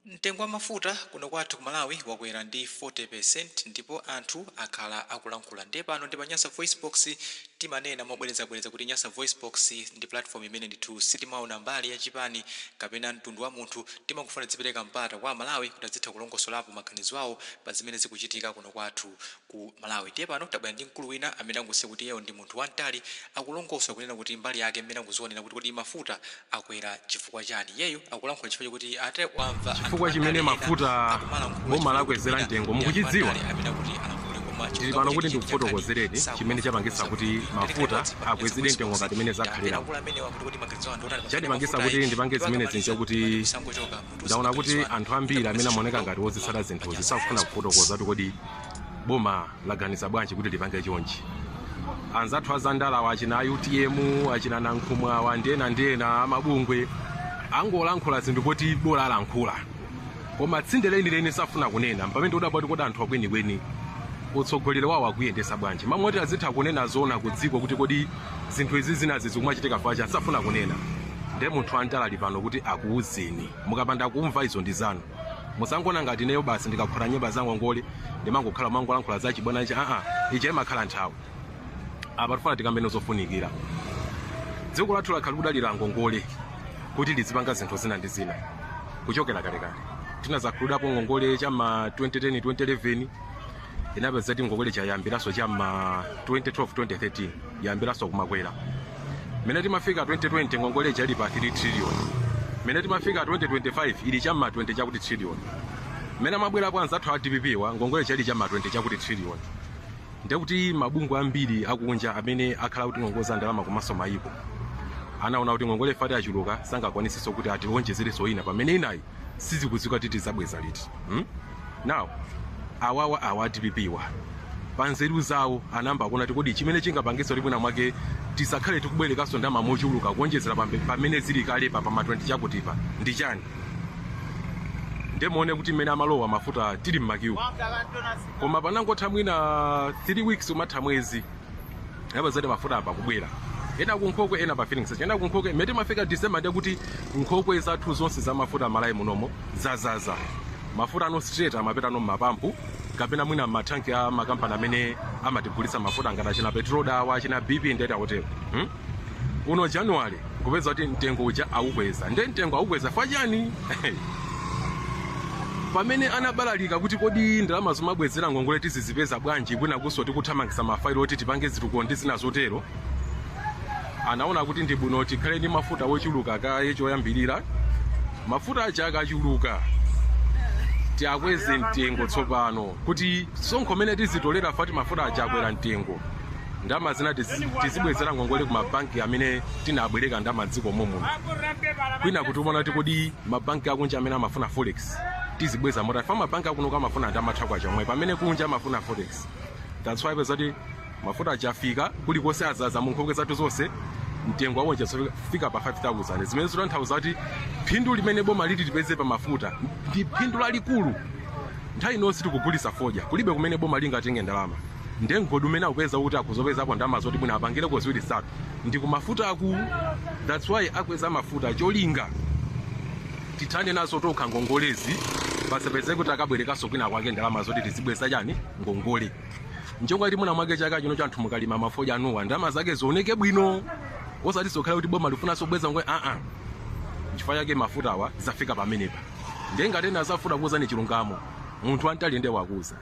Mtengo wa mafuta kuno kwathu ku Malawi wakwera ndi 40% ndipo anthu akhala akulankhula ndiye pano ndi pa Nyasa VoiceBox timanena mobwerezabwereza kuti Nyasa VoiceBox ndi platform imene ndithu sitimaona mbali ya chipani kapena mtundu wa munthu timangofuna tizipereka mpata kwa Amalawi kuti azitha kulongosolapo maganizo awo pa zimene zikuchitika kuno kwathu ku Malawi. Ndiye pano tabwera ndi mkulu wina amene angosiya kuti iyeyo ndi munthu wamtali, akulongosola kunena kuti mbali yake mmene akuzionera kuti kodi mafuta akwera chifukwa chani. Iyeyu akulankhula chifukwa choti ati wamva anthu Chifukwa andale chimene ena mafuta akumalankhula boma chifukwa choti lakwezera mwina mtengo ndi anthu mukuchidziwa? andale amene akuti alankhule koma Ndili chilungamo pano kuti chenicheni cha nkhani ndikufotokozereni chimene sakumafuna chapangitsa kuuza kuti munthu. Tili ngati mafuta modzi mwa akwezedwe Mesa mtengo Boys ngati mmene takhala zakhaliramu. akulu amenewa kuti kodi maganizo awo ndi otani pa nkhani ya Chandipangitsa mafuta kuti ayi. ndipange Iwo zimenezi akamaliza, n'chakuti pamene sangochoka. ndaona kuti anthu ambiri amene amaoneka ngati ozitsata zinthuzi sakufuna kufotokoza kuti kodi boma laganiza bwanji kuti lipange chonchi anzathu azandalawa achina a utm achina nankhumwa awa ndi ena ndi ena amabungwe angolankhula zinthu poti bola alankhula koma tsinde lenileni safuna kunena mpamene tikudabwa kuti kodi anthu akwenikweni utsogoleri wawo akuyendesa bwanji mmalo moti azitha kunena zoona ku dziko kuti kodi zinthu izi zinazi zikumachitika chifukwa chani safuna kunena nde munthu wamtali ali pano kuti akuuzeni mukapanda kumva izo ndi zanu musangoona ngati ineyo basi ndikakhuta nyemba zangongole ndimangokhala kumangolankhula za chibwana ichi aa ija imakhala nthawi apa tifuna tikambeno zofunikira dziko lathu lakhala kudalira ngongole kuti lizipanga zinthu zina ndi zina kuchokera kalekale tinazakhululukidwapo ngongole chama 2010 2011 inapeza kuti ngongole ija yayambiranso cha ma 2012 2013 yayambiranso kumakwera mene timafika 2020 ngongole ija ili pa 3 trillion mene timafika 2025 ili cha ma 20 chakuti trillion mene amabwera kwa anzathu a dpp wa ngongole ija ili cha ma 20 chakuti trillion ndekuti mabungwe ambiri akunja amene akhala akutingongoza ndalama komanso mayiko anaona kuti ngongole ifati achuluka sangakwaniseso kuti atiwonjezereso ina pamene inayi sizikudziwika kuti tizabweza liti hmm? now awawa awa a dpp wa panzeru zawo anayamba kuona kuti kodi chimene chingapangitsa kuti mwina mwake tisakhale tikubwerekanso ndalama mochuluka kuonjezera pambe- pamene zili kale pa pama 20 chakutipa ndi chani nde muone kuti mmene amalowa mafuta tili mmakiwu koma panangotha mwina 3 weeks umatha mwezi inapeza kuti mafuta ayamba kubwera ena ku nkhokwe ena pa filling station ena ku nkhokwe mmene timafika december ndiye kuti nkhokwe zathu zonse za mafuta malawi munomo zazaza mafutano straight amapitano mmapampu kapena mwina mmathanki a makampani amene amatigulitsa mafuta ngati achina petroda awa achina bp ndiyeti akutero hmm? kuno january nkupeza kuti mtengo uja aukweza nde mtengo aukweza ifa chani pamene anabalalika kuti kodi ndalama zomabwezera ngongole tizizipeza bwanji kwinakunso tikuthamangisa mafailo oti tipange zitukuko ndi zina zotero anaona kuti ndi bwino tikhale ndi mafuta wochuluka kaye choyambirira mafuta aja akachuluka tiakweze mtengo tsopano kuti msonkho umene tizitolera ifa choti mafuta aja akwera mtengo ndalama zina tizi- tizibwezera ngongole ku mabanki amene tinabwereka ndalama dziko momuno kwina kuti umaona kuti kodi mabanki akunja amene amafuna forex tizibweza motani ifa mabanki akuno amafuna ndalama ya kwacha yomwe pamene kunja amafuna forex that's why mupeza kuti mafuta akafika kulikonse azaza munkhokwe zathu zonse mtengo wake uja wafika pa 5000 zimene zikutanthauza kuti phindu limene boma liti lipeze pa mafuta ndi phindu lalikulu nthawi inonse tikugulisa fodya kulibe kumene boma lingatenge ndalama nde mgodi umene akupeza kuti akuzapezako ndalama zoti mwina apangireko ziwiri zitatu ndi kumafuta akulu that's why akweza mafuta cholinga tithane nazo tokha ngongolezi pasapeze kuti akabwerekanso kwina kwake ndalama zoti tizibweza chani ngongole ncholinga kuti mwina mwake chaka chino chanthu mukalima mafodya anuwo ndalama zake zioneke bwino osati zokhala kuti boma lifunanso kubweza ngongole aa nchifukwa chake mafuta awa zafika pamenepa nde ngati ena zavuta kuwuzani chilungamo munthu wantali nde wakuuzani